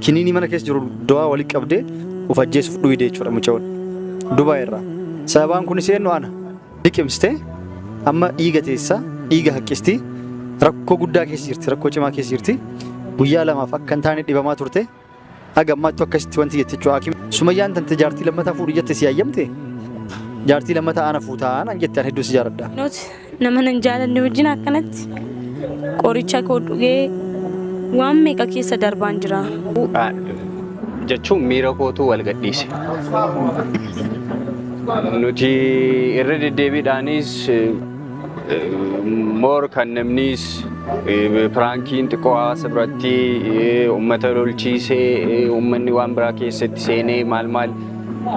Kiniinii mana keessa jiru dawaa walitti qabdee of ajjeesuuf dhuyde jechuudha mucayoon. Dubaay irraa. Sababaan kunis eenyu ana. Liqimsite amma dhiiga teessaa dhiiga haqqisti rakkoo guddaa keessa jirti rakkoo cimaa keessa jirti guyyaa lamaaf akka hin taane dhibamaa turte haga ammaattu akkasitti wanti jette jechuudha hakiim. Sumayyaan tante jaartii lammataa fuudhi jette si hayyamte jaartii lammataa ana fuutaa naan jette an hedduu si jaaladha. Not Nama nan jaalanne wajjin akkanatti qoricha koo dhugee waan meeqa keessa darbaan jira. jechuun miira kootu wal gadhiise. Nuti irra deddeebiidhaanis moor kan namnis piraankiin xiqqoo hawaasa biratti uummata lolchiisee uummanni waan biraa keessatti seenee maal maal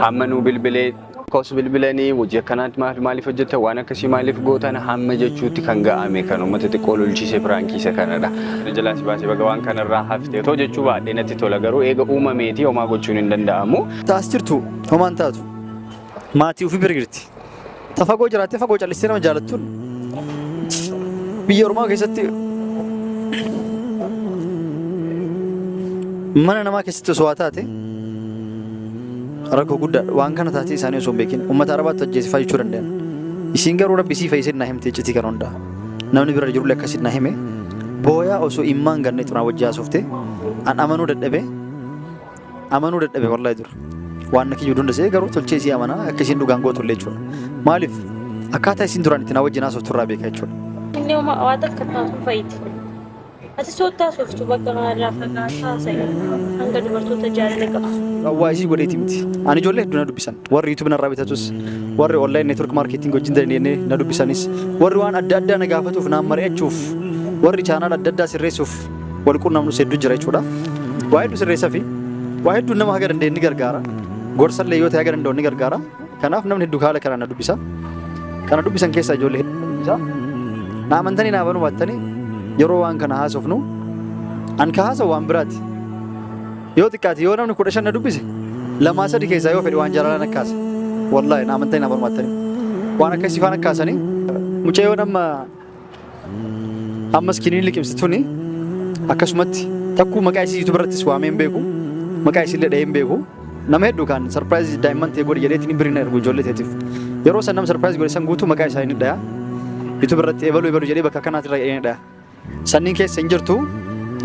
hamma nu bilbilee Kos bilbilanii hojii akkanaatti maaf maaliif hojjetta waan akkasii maaliif gootan hamma jechuutti kan ga'ame kan uummata xiqqoo lolchiise piraankiisa kanadha. Na jalaa si baasee baga waan kanarraa hafte otoo jechuu baadhee natti tola garuu eega uumameeti homaa gochuun hin danda'amu. Taas jirtu homaan taatu. Maatii ofii bira jirti. Ta fagoo jiraattee fagoo callistee nama jaalattuun biyya ormaa keessatti mana namaa keessatti osoo haa taate Rakkoo guddaadha. Waan kana taatee isaanii osoo hin beekin ummata Arabaatu ajjeese faa jechuu dandayan. Isiin garuu Rabbi isii fayyisee naa himte iccitii kana hundaa. Namni bira jirullee akkasitti naa hime. Booyaa osoo immaan ganneetu naa wajji haasofte. An amanuu dadhabe. Amanuu dadhabe wallahi dura. Waan na kiyyuu hunda se'ee garuu tolchee isii amanaa akka isiin dhugaan gootullee jechuudha. Maaliif akkaataa isiin duraan itti naa wajjin haasoftu irraa beeka jechuudha. Inni homaa waan takka taatuun fayyiti. Ati soottaa sooftu bakka kanarraa fagaataa haasa'e hanga dubartoota jaalala qabsiisu. Waa isii godheeti miti. Ani ijoollee hedduu na dubbisan. Warri YouTube narraa bitatus, warri online network marketing wajjin dandeenyee na dubbisanis, warri waan adda addaa na gaafatuuf naan mari'achuuf, warri channel adda addaa sirreessuuf wal qunnamnus hedduu jira jechuudha. Waa hedduu sirreessafi. Waa hedduun nama haga dandeenye ni gargaara. Gorsallee yoo ta'e haga danda'u ni gargaara. Kanaaf namni hedduu haala kanaan na dubbisa. Kana dubbisan keessaa ijoollee hedduu na dubbisa. Na amantanii na amanuu baattanii yeroo waan kana haasofnu an ka haasa'u waan biraati. Yoo xiqqaate yoo namni kudha shan na dubbise lamaa sadi keessaa yoo fedhe waan jaalalaa na kaasa. Wallaahi na amantanii na amanuu baattanii waan akkasii faan akkaasanii mucayyoon amma Amma iskiniin liqimsi tuni akkasumatti takkuu maqaa isii YouTube irrattis waamee hin beeku. Maqaa isiillee dhahee hin beeku. Nama hedduu kan sarpiraayizii daa'imman ta'e godhi jedheetiin hin birina ergu ijoollee ta'eetiif. Yeroo san nama sarpiraayizii godhe san guutuu maqaa isaa hin dhaya. YouTube irratti ebaluu ebaluu jedhee bakka kanaatti irra hin dhaya. Sanniin keessa hin jirtu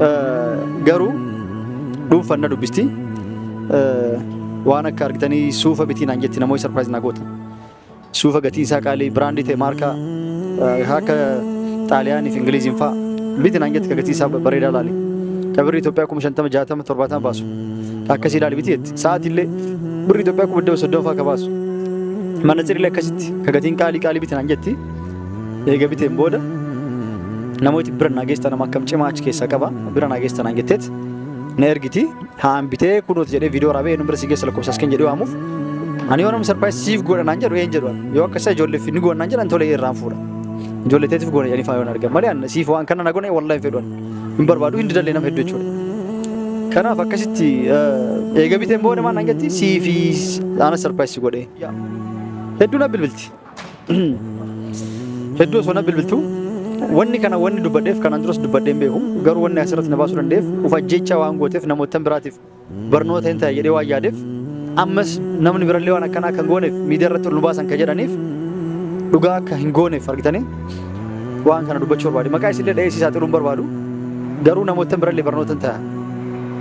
eh, garuu dhuunfan na dubbisti. Eh, Waan akka argitanii suufa bitii naan jetti namoota sarpiraayiz naa goota. Suufa gatiin isaa qaalii biraandii ta'e maarkaa eh, akka Xaaliyaanii fi Ingiliiziin fa'a biti naan jette ka gatii isaa bareedaa laali. Ka birri Itoophiyaa kuma shantama jaatama torbaatama baasu. Ka akkasii laali biti jette. Sa'aatiillee birri Itoophiyaa kuma dhibba soddoma fa'a ka baasu. Manatsirillee akkasitti ka gatiin qaalii qaalii biti naan jetti. Eega biteen booda namooti bira naa geessan nama akkam cimaa achi keessaa qaba bira naa geessan naan jetteet na ergiti. Haan bitee kunuuti jedhee viidiyoo waraabee eenyuun bira si geessa lakkoofsa asken jedhee waamuuf. Ani yoo namni sarpaayiz siif godha naan jedhu een jedhu yoo akka isa ijoolleef ni goona naan jedhan tolee irraan fuudha. Ijoollee teetiif goona jedhanii faayoon argan malee ani siif waan kana na goone wallahi hin fedhuun hin barbaadu hin didallee nama hedduu jechuudha. Kanaaf akkasitti eh, eega biteen booda maal naan jetti siifi ana sarpaayiz si godhee. Hedduu na bilbilti. Hedduu osoo na bilbiltu wanni kana wanni dubbadheef kanaan duras dubbadhee hin beeku garuu wanni asirratti na baasuu danda'eef of ajjeechaa waan gooteef namoota biraatiif barnoota hin ta'a jedhee waan yaadeef ammas namni birallee waan akkanaa kan gooneef miidiyaa irratti ol nu baasan kan jedhaniif dhugaa akka hin gooneef argitanii waan kana dubbachuu barbaade maqaa isinillee dha'ee si saaxiluu hin barbaadu garuu namoota birallee barnoota hin ta'a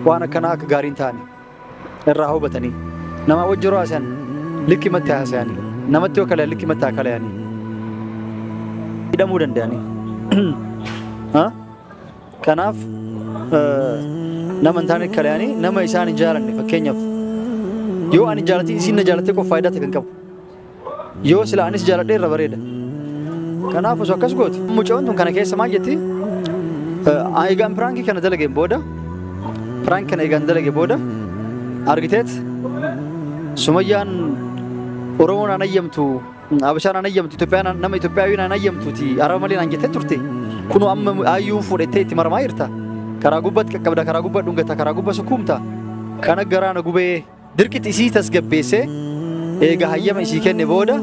waan akkanaa akka gaarii hin taane. irraa hubatanii namaa wajji yeroo haasayan likkimatti haasayanii namatti yoo kalayan likkimatti haa kalayanii hidhamuu danda'anii Ha? kanaaf eh, nama hin taane kalayanii nama isaan hin jaalanne fakkeenyaaf yoo ani jaalatiin isiin na jaalattee qof faayidaa ta'e kan qabu Yoo sila anis jaaladhe irra bareeda. Kanaaf osoo akkas goote mucoon tun kana keessa maal jetti? Eh, Egaan piraankii kana dalageen booda piraankii kana egaan dalage booda argiteet sumayyaan Oromoon aan ayyamtu Abashaan aan ayyamtu Itoophiyaan aan- nama Itoophiyaawiin aan ayyamtuuti araba malee naan jettee turte kunoo amma ayyuun fuudhettee itti maramaa jirta karaa gubbatti qaqqabda karaa gubbaa dhungata karaa gubbaa sukkuumta kana garaana gubee Dirqitti isii tasgabbeessee eega hayyama isii kenne booda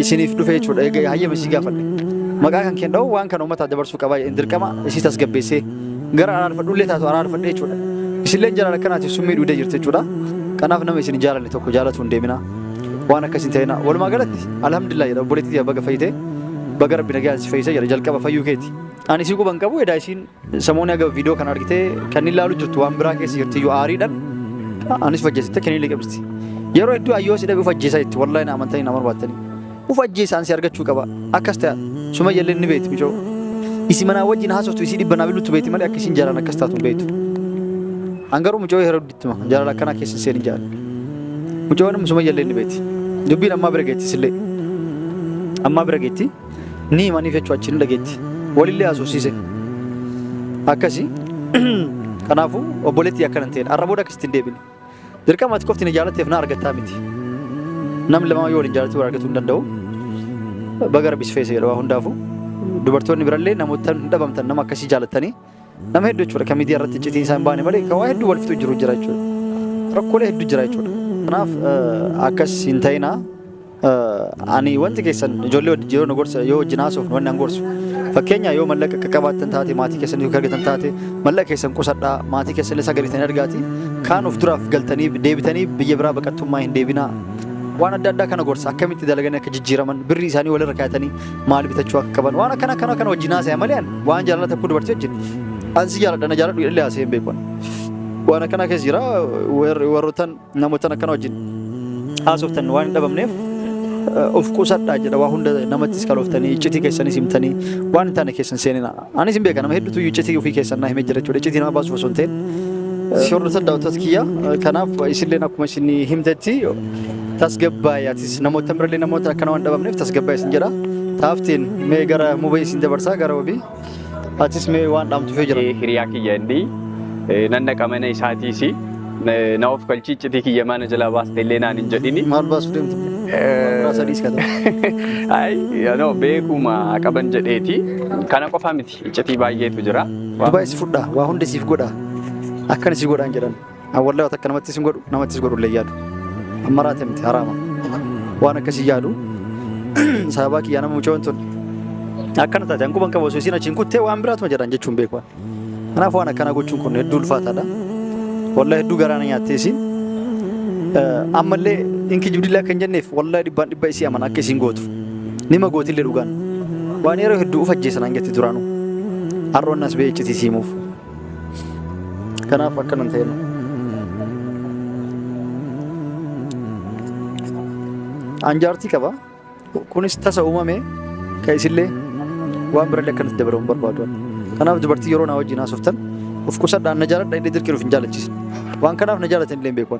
isiniif dhufe jechuudha. Eega hayyama isii gaafadhe. Maqaa kan keen dha'u waan kana uummataaf dabarsuu qabaa jedheen dirqama isii tasgabbeessee gara araarfadhullee taatu araarfadhe jechuudha. Isilleen jalaala akkanaatiif summii dhuudee jirti jechuudha. Kanaaf nama isin hin jaalanne tokko jaalatu hin deemina. Waan akkas hin ta'ina. Walumaa galatti alhamdulillah jedha obboleettii baga fayyite. Baga rabbi nagaan si fayyise jedha jalqaba fayyuu keeti. Ani isii quban qabu edaa isiin Samooni haga video kana argite kan inni laalu jirtu waan biraa keessa jirti iyyuu aariidhan anis uf ajjeesitte kan inni liqimsti. Yeroo hedduu ayyoo si dhabe uf ajjeesa itti wallahi na amantanii na barbaattanii. Uf ajjeesa ansi argachuu qaba akkas ta'a sumayya illee ni beekti micoo. Isi manaa wajjin haasoftu isii dhibba naa biluttu beekti malee akka isin jaalan akkas taatu hin beektu. An garuu mucoo yeroo hedduutti hima jaalala akkanaa keessa hin seenin jaala. Mucoon sumayya illee ni beekti. Dubbiin ammaa bira geetti isillee. Ammaa bira geetti. Ni himaniif jechuudha achiin dhageetti. Walillee haasofsiise. Akkasi. Kanaafuu obboleettii akkana hin ta'in. Har'a booda akkasitti hin deebine. Dirqama ati qofti na jaalatteef na argattaa miti. Nam lamaa yoo waliin jaalatti wal argatuu hin danda'u. Baga rabbi si feese jedha waa hundaafuu. Dubartoonni birallee namoota hin dhabamtan nama akkasii jaalattanii Nama hedduu jechuudha kan miidiyaa irratti iccitiin isaa hin baane malee kan waa hedduu wal fixu jiru jira jechuudha. Rakkoolee hedduu jira jechuudha. Kanaaf eh, akkas hin ta'inaa. Eh, Ani wanti keessan ijoollee wajjin yeroo na gorsa yoo wajjin haasofnu wanni an gorsu. Fakkeenya yoo mallaqa akka qabaattan taate maatii keessan yoo argatan taate mallaqa keessan qusadhaa maatii keessan illee sagalitan argaati. Kaan of duraaf galtanii deebitanii biyya biraa baqattummaa hin deebinaa. Waan adda addaa kana gorsa akkamitti dalaganii akka jijjiiraman birrii isaanii walirra kaayatanii maal bitachuu akka qaban waan akkana akkana kana wajjin haasa'e malee ani waan jaalala tokko dubartii wajjin ani si jaaladha na jaaladhu illee haasa'e hin beeku ani. waan akkana keessa jira warri- warrootan namootan akkana wajjin haasoftan waan hin dhabamneef eh, of qusadhaa jedha waa hunda namattis kalooftanii iccitii keessanis himtanii waan hin taane keessan seenina Anis hin beeka nama hedduutu iyyuu iccitii ofii keessan naa himee jira jechuudha. Iccitii nama baasuuf osoo hin ta'in. Si hordoftan daawwattoota kiyya. Kanaaf isinilleen akkuma isin himtetti tasgabbaa'e atis namoota birallee namoota akkana waan dhabamneef tasgabbaa'e isin jedha. Taaftiin mee gara mubee isin dabarsaa gara wabii. Atis mee waan dhaamtuuf yoo jira. Hiriyaa kiyya inni nan dhaqa mana isaatiisi. Na of kalchii iccitii kiyya maana jalaa baaste illee naan hin jedhini. Maal baasuu deemtu? Maal sadii iska ta'u? Ay, no, beekuma qaban jedheeti. Kana qofa miti iccitii baay'eetu jira. Dubaay si fudhaa, waa hundi siif godhaa. Akkana si godhaan jedhan. An wallahi waan takka namattis hin godhu, namattis godhu illee yaadu. Amma raate miti haraama. Waan akkasii yaadu. Sababaa kiyyaa nama mucoon tun. Akkana taate an quban qabu osoo isiin achiin kuttee waan biraatuma jedhan jechuun beeku. Kanaaf waan akkanaa gochuun kun hedduu ulfaataadha. Wallah hedduu garaa na nyaattee isiin. Eh, Ammallee inki jibdillaa kan jenneef wallah dhibbaan dhibba isii amana akka isiin gootu. Nima gootillee dhugaan. Waan yeroo hedduu uf ajjeesan an jetti duraanuu. Har'oon as bee iccitii siimuuf. Kanaaf akkanan ta'e nu. An jaartii qaba. Kunis tasa uumame kan isillee waan birallee akka nuti dabalu hin barbaadu. Kanaaf dubartii yeroo naa wajjin haasoftan of qusadhaan na jaaladha inni dirqiin of hin jaalachiisa. Waan kanaaf na jaalatan illee hin beeku.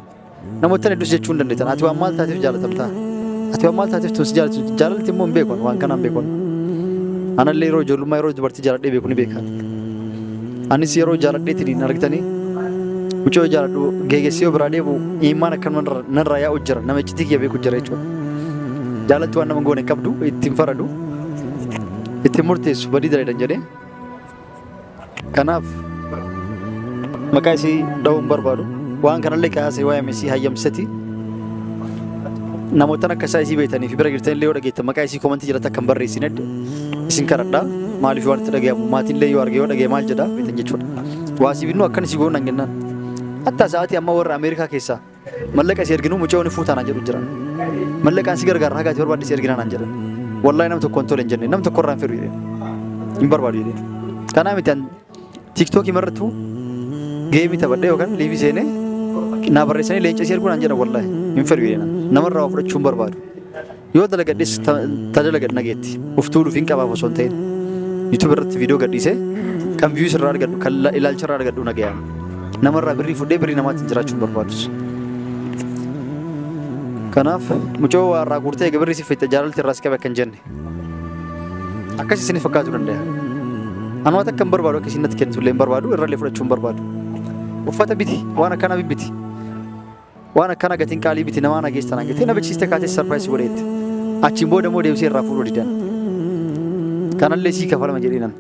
Namoottan hedduus jechuu hin dandeettan. Ati waan maal taateef jaalatamta? Ati waan maal taateef tun si jaalatu? Jaalalti immoo hin beeku waan kanaan beeku. Anallee yeroo ijoollummaa yeroo dubartii jaaladhee beeku ni beekan. Anis yeroo jaaladheetiin hin argitanii mucoo jaaladhu geegessee yoo biraa deebi'u imaan akka narraa yaa'u jira nama iccitii kiyya beeku jira jechuudha. Jaalatti waan nama hin goone hin qabdu, ittiin faradu, ittiin murteessu badii dalagan jedhee. Kanaaf maqaa isii dhahuu hin barbaadu. Waan kanallee kaasee waa'ee misii hayyamsisati. Namoottan akka isaa isii beektanii fi bira jirtan illee yoo dhageettan maqaa isii komantii jalatti akka hin barreessine isin kadhadha. Maaliif waan itti dhagahamu maatiin illee yoo arge yoo dhagahe maal jedha beektan jechuudha. Waasiif innuu akkan isii goona hin jennaan. Hatta sa'aatii amma warra Ameerikaa keessaa Mallaqa si erginu mucayoo ni fuutaa naan jedhu jira. Mallaqaan si gargaara haga ati barbaadde si ergina naan jedhan. Wallahi nam tokkoon tole hin jenne nam tokko irraa hin firu jedhe. Hin barbaadu jedhe. Kanaa miti an tiiktookii marrattuu geemii taphadhee yookaan liivii seenee naa barreessanii leenca si erguu naan jedhan wallahi hin firu jedhe. Namarraa waa fudhachuu hin barbaadu. Yoo dalagadhes ta- ta dalagadhe nageetti. Of tuuluuf hin qabaaf osoo hin ta'in. YouTube irratti viidiyoo gadhiisee kan views irraa argadhu kan la- ilaalcha irraa argadhu nagayaan. Namarraa birrii fudhee birrii namaatiin jiraachuu hin barbaadus. Kanaaf mucoo waa irraa guurtee egaa birrii si fixxe jaalalti irraa si qabe akka hin jenne. Akkas isinif fakkaatu danda'a. Anuma takka hin barbaadu akka isin natti kennitu illee hin barbaadu irrallee fudhachuu hin barbaadu. Uffata biti waan akkanaa bibbiti. Waan akkana gatiin qaalii biti namaa na geessan hangatee na beeksiste kaatee sarpiraayis godheetti. Achiin booda immoo deebisee irraa fuudhuu didan. Kanallee sii kafalama jedhinan.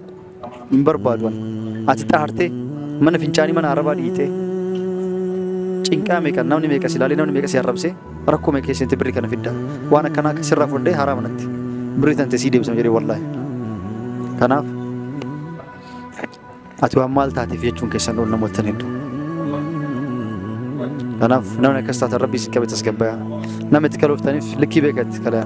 Hin barbaadu ani. Ati xahartee mana fincaanii mana arabaa dhiitee. Cinqaa meeqa namni meeqa si ilaalee namni meeqa si arrabsee rakkoo meeqa keessatti birri kana fidda. Waan akkanaa akka sirraa fudhee haraa manatti. Birri tante sii deebisama jedhee wallaahi. Kanaaf Ati waan maal taateef jechuun keessan ol namoottan hedduu. Kanaaf namni akkas taatan rabbii si qabe tasgabbaa'aa. Nama itti kalooftaniif likkii beekatti kalaa.